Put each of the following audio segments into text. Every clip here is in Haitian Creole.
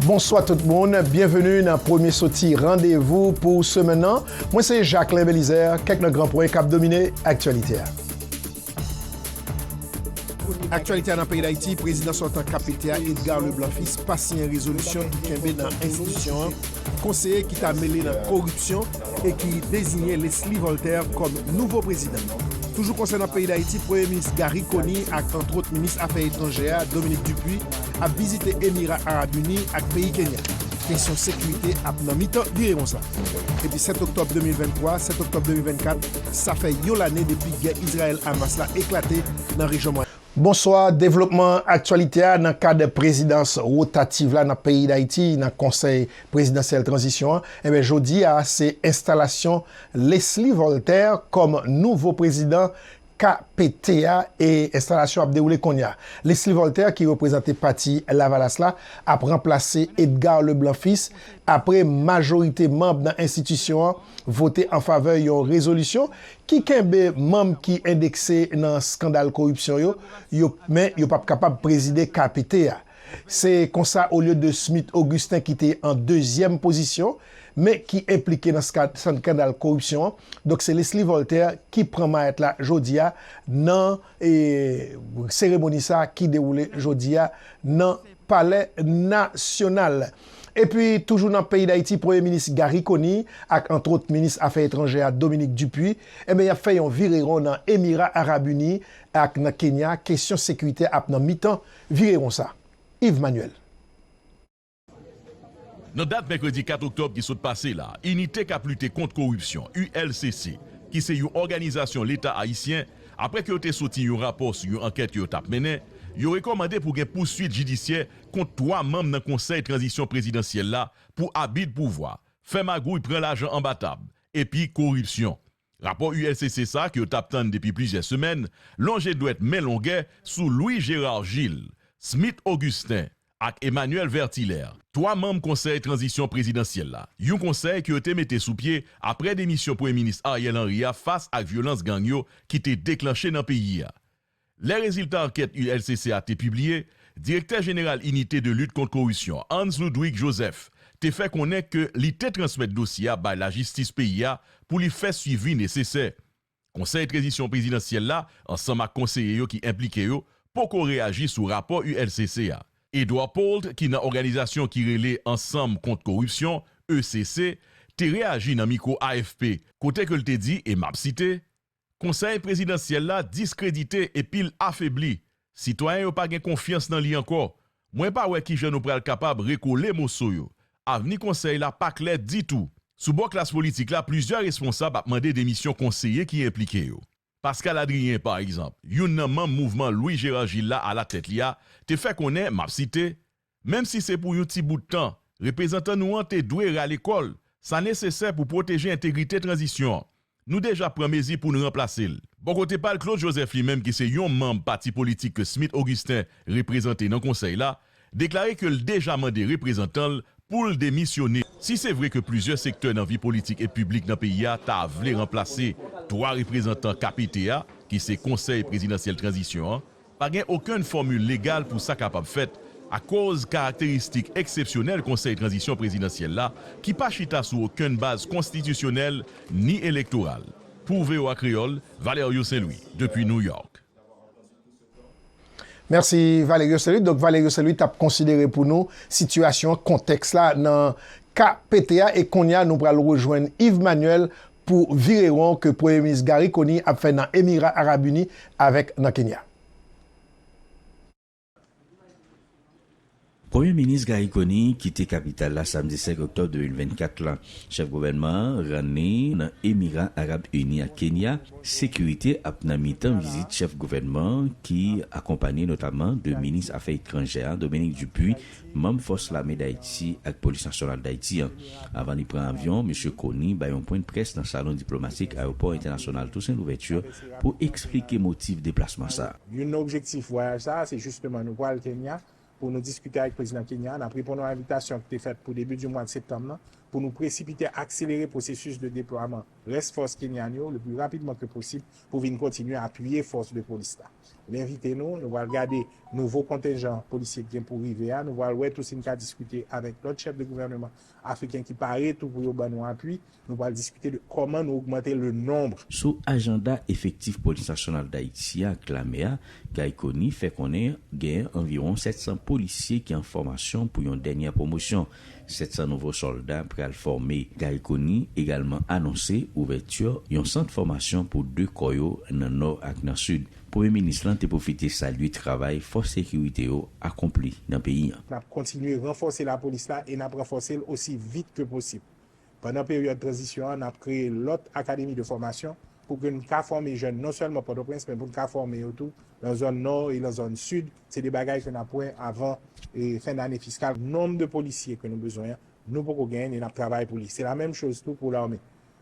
Bonswa tout moun, byenveni nan premye soti randevou pou semen nan. Mwen se Jacquelin Belizaire, kèk nan gran pwen k ap domine aktyalite a. Aktyalite nan peyi Dayiti, Prezidan sòtan KPT a, Edgar Leblanc Fils pa siyen rezolisyon ki kenbe nan enstitisyon an, konseye ki ta mele nan koripsyon e ki deziyen Leslie Voltaire kòm nouvo prezidan. Toujou konsènan peyi Dayiti, Premye Minis Garry Conille ak antwòt Minis Afè Etranjè a, Dominique Dupuy, ap vizite Emira Arab Uni ak peyi Kenya. Kesyon sekirite ap nan mitan vire konsa. Depi 7 oktòb 2023, 7 oktòb 2024, sa fè yon lane depi gè Izrayèl-Hamas la eklate nan rejyon Mwayen. Bonswa, devlopman aktyalite a nan kad prezidans wotativ la nan peyi Dayiti nan konsèy prezidansyèl tranzisyon an, enben jodi a se enstalasyon Leslie Voltaire kòm nouvo prezidan KPT a e enstalasyon ap dewoule konnya. Lesly Voltaire ki reprezante pati Lavalas la ap ranplase Edgar Leblanc Fils apre majorite manb nan enstitisyon an vote an favè yon rezolisyon ki kenbe manb ki endekse nan skandal koripsyon yo yo men yo pap kapab prezide KPT a. Se konsa olye de Smith Augustin ki te an dezyèm pozisyon, men ki enplike nan skandal koripsyon an, donk se Leslie Voltaire ki pran mayèt la jodi a nan seremoni sa ki dewoule jodi a nan palè nasyonal. Epi toujou nan peyi Dayiti premye minis Garry Conille ak antwot minis afè etranjè a Dominique Dupuy enben y ap fè yon vireron nan Emira Arab Uni ak nan Kenya kesyon sekirite ap nan mitan Vire konsa, Yves Manuel. Nan dat mèkredi 4 oktòb ki sot pase la, Inite k ap lite kont koripsyon, ULCC, ki se yon òganizasyon Leta ayisyen, apre ke yo te soti yon rapò sou yon ankèt ke yo t ap mennen, yo rekòmande pou gen pouswit jidisyè kont 3 manm nan konsèy tranzisyon prezidansyèl la pou abi dpouvwa, fè magouy pran lajan anba tab, epi koripsyon. Rapò ulcc sa ke yo tap tann depi plizyè semèn lonje dwèt men longè sou Louis Gérard Gilles, Smith Augustin ak Emmanuel Vertilher, 3 manm konsèy tranzisyon prezidansyèl la, yon konsèy ke yo te mete sou pye apre demisyon Premye Minis Ariel Henry a fas ak vyolans gang yo ki te deklanche nan peyi a. Lè rezilta ankèt ULCC a te pibliye, Direktè Jeneral Inite de Lit Kont Korisyon, Hans Ludwig Joseph, te fè konnen ke li te transmèt dosye a bay lajistis peyi a pou li fè swivi nesesè. Konsèy Trezisyon Prezidansyèl la ansanm ak konseye yo ki enplike yo poko reyaji sou rapò ULCC a. Edouard Pault ki nan òganizasyon ki rele Ansanm Kont Koripsyon, ECC, te reyaji nan mikwo AFP kote ke l te di, e m ap site, Konsèy prezidansyèl la diskredite epi l afebli, sitwayen yo pa gen konfyans nan li ankò. Mwen pa wè kijan nou pral kapab rekole moso yo. Avni konsèy la pa klè ditou. Sou bò klas politik la plizyè responsab ap mande demisyon konseye ki enplike yo. Pascal Adrien, pa egzanp, youn nan manm mouvman Louis Gérard Gilles la alatèt li a, te fè konnen, m ap site, Menm si se pou yon ti bout tan, reprezantan nou an te dwe rale kò l, sa nesesè pou pwoteje entegrite tranzisyon an. Nou deja pran mezi pou n ranplase l. Bò kote pa l, Claude Joseph li menm ki se yon manm pati politik ke Smith Augustin reprezante nan konsèy la, deklare ke l deja mande reprezantan l pou l demisyone. Si se vre ke plizyè sektè nan vi politik e piblik nan peyi a ta vle ranplase 3 reprezantan KPT a, ki se Konsèy Prezidansyèl Tranzisyon an, Pa gen okenn fòmil legal pou sa kapab fèt akoz karakteristik eksepsyonèl Konsèy Tranzisyon Prezidansyèl la ki pa chita sou okenn baz konstitisyonèl ni elektoral. Pou voa Kreyòl, Valerio Saint Louis, depi New York. Mèsi Valerio Saint Louis. Donk Valerio Saint Louis t ap konsidere pou nou sitiyasyon an, kontèks la nan ka pete a. E kounye a nou pral rejwenn Yves Manuel pou vire won ke Premye Minis Garry Conille ap fè nan Emira Arab Ini avèk nan Kenya. Premye Minis Garry Conille kite kapital la samdi 5 oktòb 2024 la. Chèf gouvènman an rann li nan Emira Arab Ini ak Kenya. Sekirite ap nan mitan vizit chèf gouvènman an ki akonpanye notaman de Minis Afè Etranjè a, Dominique Dupuy, manm Fòs Lame Dayiti ak Polis Nasyonal Dayiti an. Avan li pran avyon, Misye Kony bay yon pwennprès nan salon diplomatik Ayopò Entènasyonal Tousen Louvèti pou eksplike motif deplasman sa a. Youn nan objektif vwayaj sa a se jisteman nou pral Kenya pou nou diskite ak Prezidan Kenya a. N ap reponn yon envitasyon ki te fèt pou debi di mwad septanm nan pou nou presipite akselere pwosesis de deplwaman rès fòs kenyan yo le pli rapidman ke posib Pou vin kontinye apiye fòs de polis la. N envite nou, nou pral gade nouvo kontenjan polisye k gen pou rive a, nou pral wè tou si n ka diskite avèk lòt chèf de gouvèneman afriken ki pare tou pou yo ban nou apui, nou pral diskite de kòman nou ogmante le nombre. Sou ajanda efektif Polis Nasyonal Dayiti a ak Lame a, Guy Conille fè konnen genyen anviwon 700 polisye ki an fòmasyon pou yon dènyè pwomosyon. 700 nouvo sòlda pral fòme. Guy Conille egalman anonse ouvèti yon sant fòmasyon pou 2 kò yo nan Nò ak nan Sid. Premye Minis lan te pwofite salye travay fòs sekirite yo akonpli nan peyi an. N ap kontinye ranfòse lapolis la e n ap ranfòse l osi vit ke posib. Pandan peryòd tranzisyon an, n ap kreye lòt akademi de fòmasyon pou ke n ka fòme jèn non sèlman Pòtoprens men pou n ka fòme yo tou lan zòn Nò e lan zòn Sid. Se 2 bagay ke n ap wè avan fen dane fiskal. Nonb de polisye ke nou bezwen an, nou poko genyen ni n ap travay pou li. Se la menm choz tou pou lame.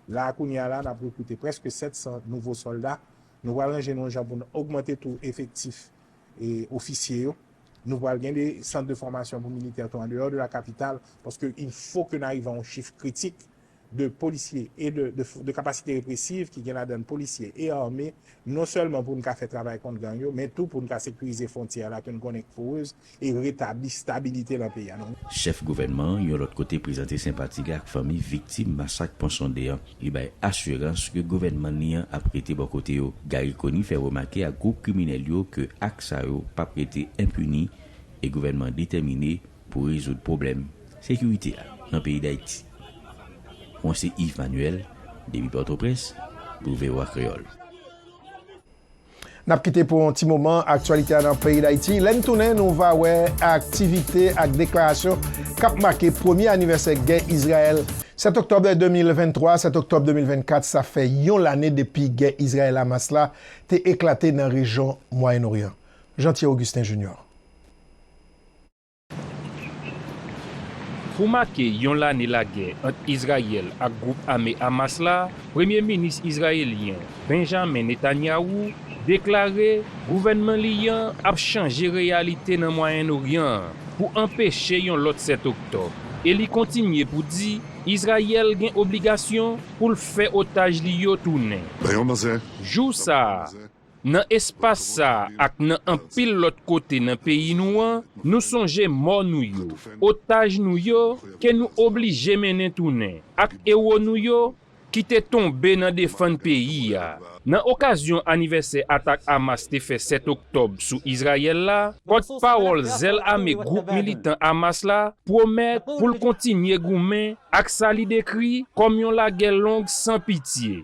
La a kounye a la, n ap rekrite prèske 700 nouvo sòlda. Nou pral ranje nou an jan pou n ogmante tou efektif ofisye yo. Nou pral gen de sant de fòmasyon pou militè tou andeyò de la kapital, paske il fo ke n'arive a yon chif kritik de polisye e de kapasite represiv ki gen ladann polisye e ame, non sèlman pou n' ka fè travay kont gang yo, men tou pou n' ka sekirize fwontyè a la ke n' konnen k' porez e retabli stabilite lan peyi a. Chèf gouvènman an, yon lòt kote prezante senpati li ak fanmi viktim masak Pon Sonde an. Li bay asirans ke gouvènman li an ap rete bò kote yo. Garry Conille fè remake ak gwoup kriminèl yo ke ak sa yo pap rete enpini e gouvènman an detèmine pou rezoud pwoblèm sekirite a nan peyi Dayiti. Mwen se Yves Manuel depi Pòtoprens pou voa Kreyòl. N ap kite pou yon ti moman aktyalite a nan peyi Dayiti. Lè n tounen, nou va wè aktivite ak deklarasyon k ap make premye anivèsè gè Izrayèl. 7 oktòb 2023, 7 oktòb 2024, sa fè yon lane depi gè Izrayèl-Hamas la te eklate nan rejyon Mwayen Oryan. Jean Thier Augustin Junior. Pou make yon lane lagè ant Izrayèl ak gwoup ame Hamas la, Premye Minis Izrayelyen Benjamin Netanyahu deklare gouvènman li an ap chanje reyalite nan Mwayen Oryan an pou anpeche yon lòt 7 Oktòb e li kontinye pou di Izrayèl gen obligasyon pou l fè otaj li yo tounen. Jou sa a, Nan espas sa a ak nan anpil lòt kote nan peyi nou an, nou sonje mò nou yo, otaj nou yo ke nou oblije mennen tounen, ak ewo nou yo ki te tonbe nan defann peyi a. Nan okazyon anivèsè atak Hamas te fè 7 oktòb sou Izrayèl la, pòtpawòl zèl ame gwoup militan Hamas la pwomèt pou l kontinye goumen ak sa li dekri kòm yon lagè long san pitye.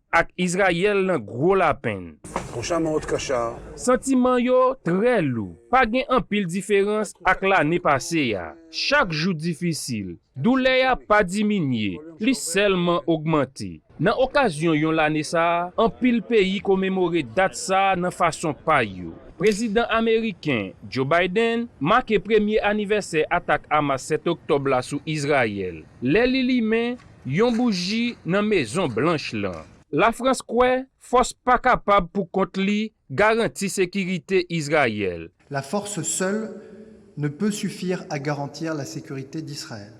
Ak Izrayèl nan gwo lapenn. Ton char nan otr char. Santiman yo trè lou. Pa gen anpil diferans ak lane pase a. Chak jou difisil. Doulè a pa diminye, li sèlman ogmante. Nan okazyon yon lane sa, anpil peyi komemore dat sa nan fason pa yo. Prezidan ameriken Joe Biden make premye anivèsè atak Hamas 7 oktòb la sou Izrayèl, lè li limen Yon bouji nan Mezon Blanch lan. Lafrans kwè fòs pa kapab pou kont li garanti sekirite Izrayèl. La force seule ne peut suffire à garantir la sécurité d'Israël.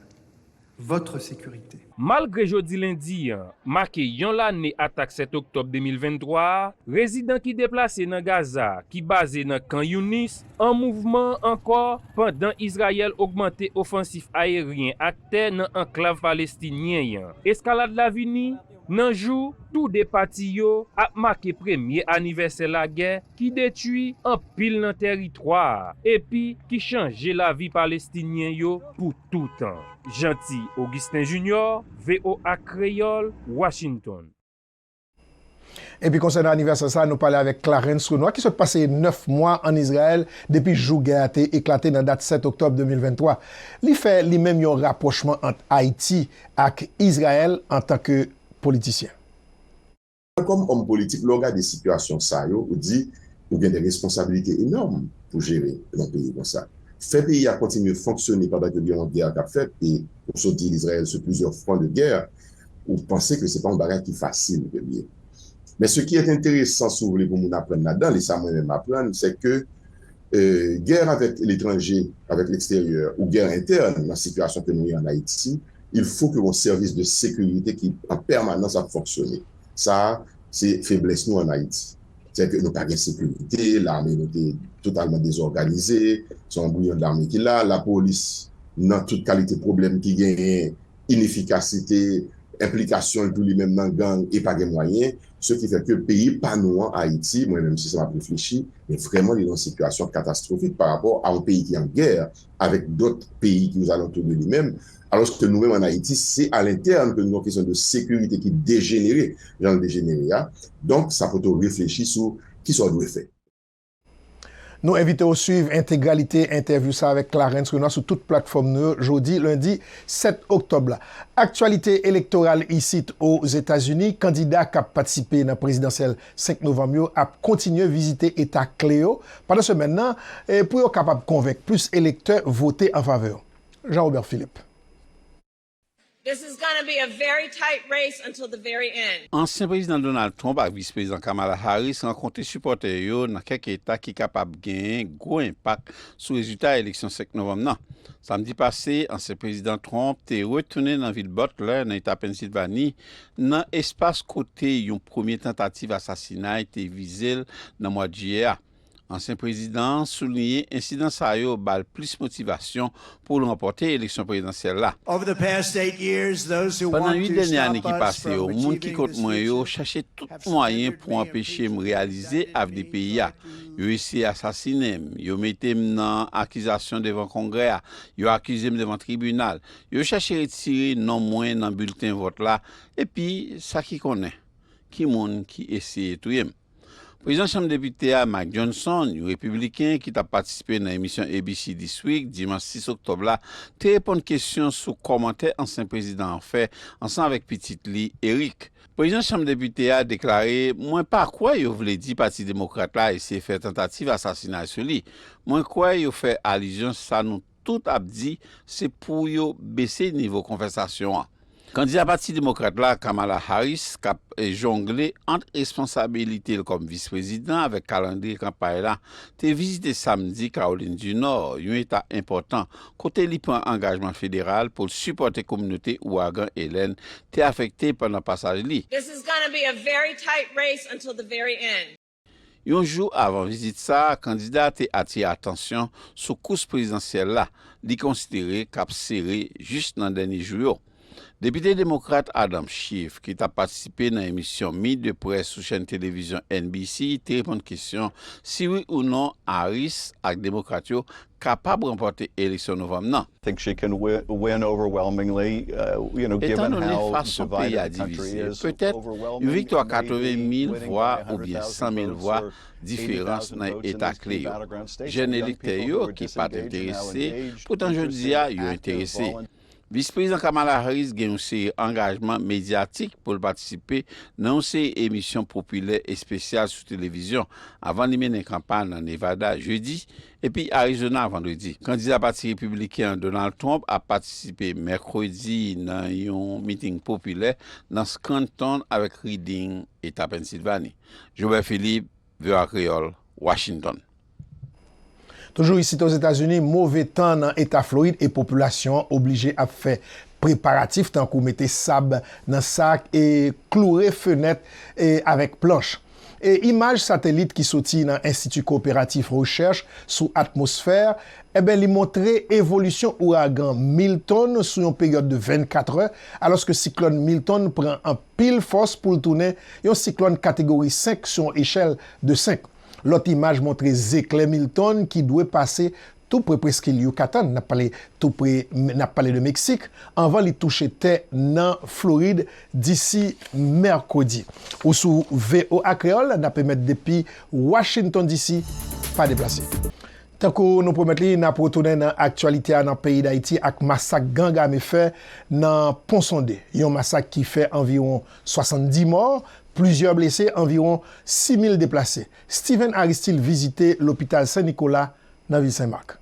Votre sécurité. Malgre jodi lendi an make yon lane atak 7 oktòb 2023 a, rezidan ki deplase nan Gaza ki baze nan Khan Younis An mouvman ankò pandan Izrayèl ogmante ofansif ayeryen ak tè nan anklav palestinyen an. Eskalad la vini nan jou tou 2 pati yo ap make premye anivèsè lagè ki detui anpil nan tèritwa a epi ki chanje lavi Palestinyen yo pou toutan. Jeanty Augustin Junior, voa Kreyòl, Washington. Epi konsènan anivèsè sa a, nou pale avèk Clarens Renois ki sot pase 9 mwa ann Izrayèl depi jou gè a te eklate nan dat 7 oktòb 2023. Li fè li menm yon rapwochman ant Ayiti ak Izrayèl antanke politisyen. Kòm òm politik, lè w gade sitiyasyon sa yo, ou di ou gen de responsabilite enòm pou jere yon peyi konsa. Fè peyi a kontinye fonksyone pandan ke gen yon gè k ap fèt e ou sot di Izrayèl sou plizyè fwon de gè. ou panse ke se pa yon bagay ki fasil ke li ye. Men ce qui est intéressant si w vle pou moun aprann ladan l e sa mwen menm aprann c'est que guerre avec l'étranger, avec l'extérieur ou guerre interne nan situation ke nou ye en Ayiti, il faut ke yon service de sécurité ki en permanence ap fonksyone. Sa a se feblès nou en Ayiti. C'est que nou pa gen sécurité, l'armée nou te totalement désorganisée, se yon bouyon d'armée ki la, la police nan tout kalite pwoblèm ki genyen inefikasite enplikasyon l tou li menm nan gang e pa gen mwayen se ki fè ke peyi pa nou an Ayiti mwen menm se sa m ap reflechi men vrèman li nan yon sitiyasyon katastwofik pa rapò a yon peyi ki an gè avèk dòt peyi ki ozalantou de li menm alòske nou menm an Ayiti se a lentèn ke nou gen yon kesyon de sekirite ki dejenere jan l dejenere a donk sa pote w reflechi sou kisa w dwe fè. Nou envite w swiv entegralite entèvyou sa avèk Clarens Renois sou tout platfòm nou yo jodi lendi 7 oktòb la. Aktyalite elektoral isit o Zetazini, kandida k ap patisipe nan prezidansyèl 5 novanm yo ap kontinye vizite eta kle yo pandan semèn nan pou yo kapab konvenk plis elektè vote an favè yo. Jean Robert Philippe. This is gonna be a very tight race until the very end. Ansyen Prezidan Donald Trump ak Vis Prezidan Kamala Harris rankontre sipòtè yo nan kèk eta ki kapab genyen gwo enpak sou rezilta eleksyon 5 novanm nan. Samdi pase, ansyen Prezidan Trump te retounen nan vil Butler, nan eta Pennsilvani, nan espas kote yon premye tantativ asasinay te vize l nan mwad Jiyè a. Ansyen prezidan an souliyen ensidan sa yo ba l plis motivasyon pou l ranpòte eleksyon prezidansyèl la. Pandan 8 dènye ane ki pase yo, moun ki kont mwen yo chache tout mwayen pou anpeche m reyalize avni peyi a. Yo eseye asasinen m, yo mete m nan akizasyon devan Kongrè a, yo akize m devan tribinal, yo chache retire non mwen nan bilten vòt la, epi sa ki konnen ki moun ki eseye touye m. Prezidan Chanm Depite a, Mike Johnson, yon Repibliken ki t ap patisipe nan emisyon ABC This Week dimanch 6 oktòb la, te reponn kesyon sou kòmantè ansyen prezidan an fè ansanm avèk pitit li, Eric. Prezidan Chanm Depite a deklare, Mwen pa kwè yo vle di Pati Demokrat la eseye fè tantativ asasinay sou li. Mwen kwè yo fè alizyon sa nou. tout ap di se pou yo bese nivo konvèsasyon an. Kandida Pati Demokrat la, Kamala Harris, k ap jongle ant responsabilite l kòm Vis Prezidan avèk kalandriye kanpay la, te vizite Samdi Kawolin di Nò, yon eta enpòtan, kote li pran angajman federal pou l sipòte kominote Ouragan Helene te afekte pandan pasaj li. Yon jou avan vizit sa a, kandida a te atire atansyon sou kous prezidansyèl la, li konsidere k ap sere jis nan dènye jou yo. Depite demokrat Adam Schiff, ki t ap patisipe nan emisyon Meet the Press sou chèn televizyon NBC, te reponn kesyon si wi ou non Harris ak Demokrat yo kapab ranpòte eleksyon Novanm nan. Etandone fason peyi a divize, petèt yon viktwa 80 mil vwa oubyen 100 mil vwa diferans nan eta kle yo, jèn elektè yo ki pa t enterese poutan jodi a yo enterese. Vis Prezidant Kamala Harris gen yon seri angajman medyatik pou l patisipe nan yon seri emisyon popilè espesyal sou televizyon avan li mennen kanpay nan Nevada Jedi Epi Arizona Vandredi, kandida pati Repibliken an Donald Trump ap patisipe Mèkredi nan yon meeting popilè nan Scranton avèk Reading, Eta Pennsilvani. Jobè Philippe, voa Kreyòl, Washington. Toujou isit Ozetazini, move tan nan Eta Florid e popilasyon an oblije ap fè preparatif tankou mete sab nan sak e kloure fenèt avèk planche. e imaj satelit ki soti nan Enstiti Kowoperatif Rechèch sou Atmosfè, enben li montre evolisyon ouragan Milton sou yon peryòd de 24 è, alòske siklòn Milton pran anpil fòs pou l tounen yon siklòn kategori 5 sou yon echèl de 5. Lòt imaj montre zeklè Milton ki dwe pase tou pre preskil Yucatan, nap pale tou pre nap pale de Meksik, anvan li touche tè nan Florid disi Mèkredi. Ou sou voa Kreyol nap emèt depi Washington DC. Pa deplase. Tankou nou pwomèt li, nap retounen nan aktyalite a nan peyi Dayiti ak masak gang ame fè nan Ponsonde. Yon masak ki fè anviwon 70 mò, plizyè blese, anviwon 6 mil deplase. Steven Aristil vizite lopital Sen Nikola nan vil Sen Mak.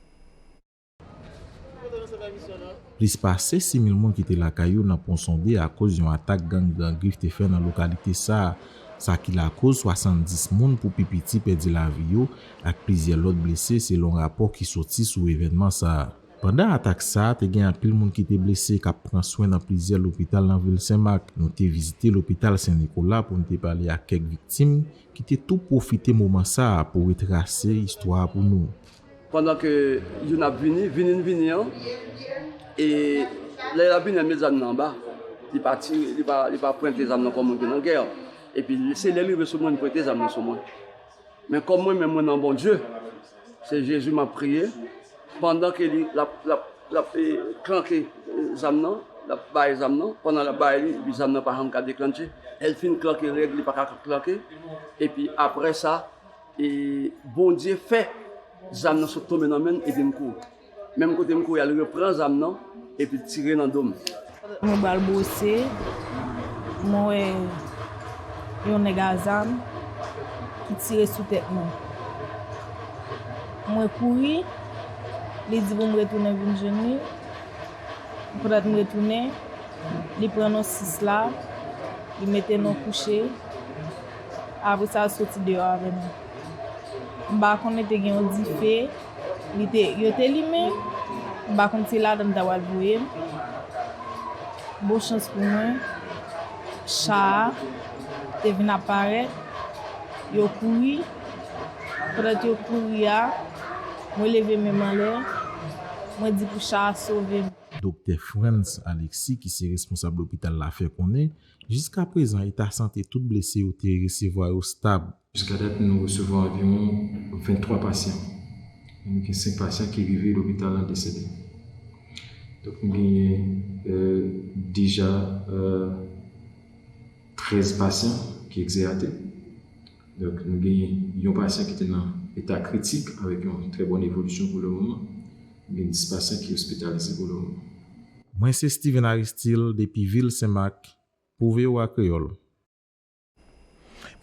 Plis pase 6 mil moun kite lakay yo nan Pon Sonde akoz yon atak gang Gran Grif te fè nan lokalite sa, sa ki lakoz 70 moun pou pi piti pèdi lavi yo ak plizyè lòt blese selon rapò ki soti sou evènman sa. Pandan atak sa, te gen anpil moun ki te blese k ap pran swen nan plizyè lopital nan vil Sen Mak. Nou te vizite lopital Sen Nikola pou n te pale ak kèk viktim Ki te tou pwofite moman sa a pou retrase istwa a pou nou. Pandan ke youn ap vini, vini n vini an, e lè l ap vini an, met zam nan anba. Li pa tire, li pa, li pa pwente zam nan kòm moun ki nan gè. Epi se lè l rive sou mwen, li pwente zam nan sou mwen. Men kòm mwen menm mwen nan Bondye. Se Jezi map priye pandan ke li lap lap lap e klanke zam nan lap bay zam nan pandan lap bay li epi zam nan pa janm ka deklannche lè l fin klanke règ li paka klanke epi aprè sa e Bondye fè zam nan sot tonbe nan men l epi m kouri. Menm kote m kouri a li repran zam nan epi l tire nan do m. Mwen pral bwose, mwen wè yon nèg a zam ki tire sou tèt mwen. Mwen kouri, li di pou m retounen vin jwenn li. Pandan m retounen, li pran non 6 la, li mete non kouche. Apre sa l soti deyò avè m. M pa konnen te gen yon dife. Li te, yo te limen, m pa konn si ladann ta pral voye m. Bon chans pou mwen, cha a te vin ap parèt, yo kouri, pandan yo kouri a, mwen leve men m anlè, mwen di pou cha a sove m. Doktè Frantz Alexis ki se responsab lopital la fè konnen, jiskaprezan eta sante tout blese yo te resevwa yo stab. Jiska dat nou resevwa anviwon 23 pasyan. Nou gen 5 pasyan ki rive lopital lan desede. Donk nou genyen deja 13 pasyan ki egzeyate. Donk nou genyen yon pasyan ki te nan eta kritik avèk yon trè bòn evolisyon pou le moman. Nou gen 10 pasyan ki ospitalize pou le moman. Mwen se Steven Aristil depi vil Senmak pou voa Kreyol.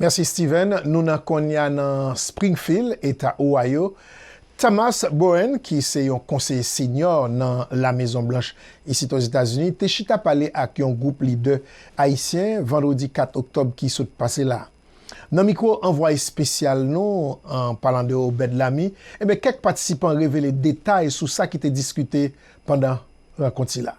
Mèsi Steven. Nou nan Konya nan Springfield, Eta Ohio. Thomas Bowen, ki se yon konseye senyò nan La Mezon Blanch isit Ozetazini, te chita pale ak yon gwoup lidè ayisyen vandredi 4 oktòb ki sot pase la. Nan mikwo anvwaye espesyal nou an, palan de Obed Lamy, enben kèk patisipan revele detay sou sa ki te diskite pandan rankont sila.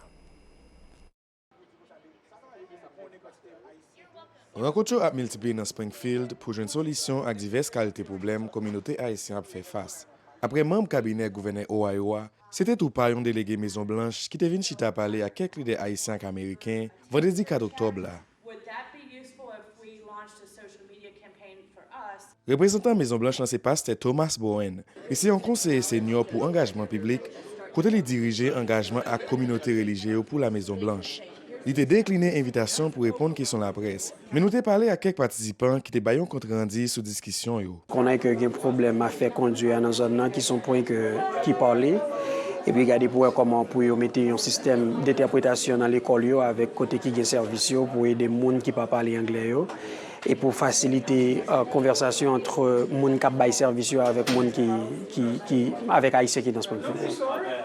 Rankont yo ap miltipliye nan Springfield pou jwenn solisyon ak divès kalite pwoblèm kominote Ayisyen ap fè fas. Aprè manm kabinè gouvènè Ohio a, se te tou pa yon delege Mezon Blanch ki te vin chita pale ak kèk lidè Ayisyen ak Ameriken vandredi 4 oktòb la. Reprezantan Mezon Blanch lan se Pastè Thomas Bowen. Li se yon konseye senyò pou angajman piblik, kote li dirije angajman ak kominote relijye yo pou La Mezon Blanch. Li te dekline envitasyon pou reponn kesyon laprès, men nou te pale ak kèk patisipan ki te bay yon kont randi sou diskisyon yo. Konnen ke gen pwoblèm a fè kondwi a nan zòn nan ki son pwen ke ki pale epi gade pou wè kòman pou yo mete yon sistèm dentèpretasyon nan lekòl yo avèk kote ki gen sèvis yo pou ede moun ki pa pale anglè yo. E pou fasilite konvèsasyon ant moun k ap bay sèvis yo avèk moun ki, avèk Ayisyen ki nan Springfield.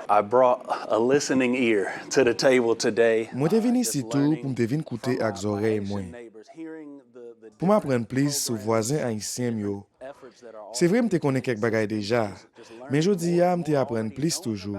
I brought a listening ear to the table today. Mwen te vin isit tou pou m te vin koute ak zòrèy mwen, pou m aprann plis sou vwazen ayisyen m yo. Se vre m te konnen kèk bagay deja, men jodi a m te aprann plis toujou.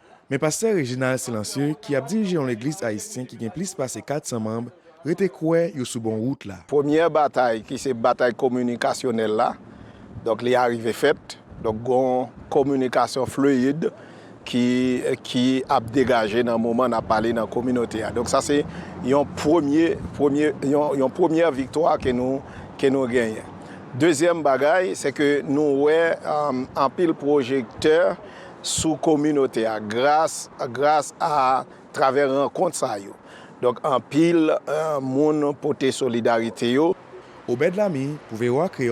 Men pastè Reginald Silencieux ki ap dirije yon legliz ayisyen ki gen plis pase 400 manb rete kwè yo sou bon wout la. Premyè batay ki se batay kominikasyonèl la, donk li arive fèt, donk gon kominikasyon fluid ki ap degaje nan moman nap pale nan kominote a. Donk sa se yon premye, premye, yon premyè viktwa ke nou, ke nou genyen. Dezyèm bagay se ke nou wè anpil pwojektè, sou kominote a gras gras a travè rankont sa yo donk anpil moun pote solidarite yo. Obed Lamy pou voa Kreyol.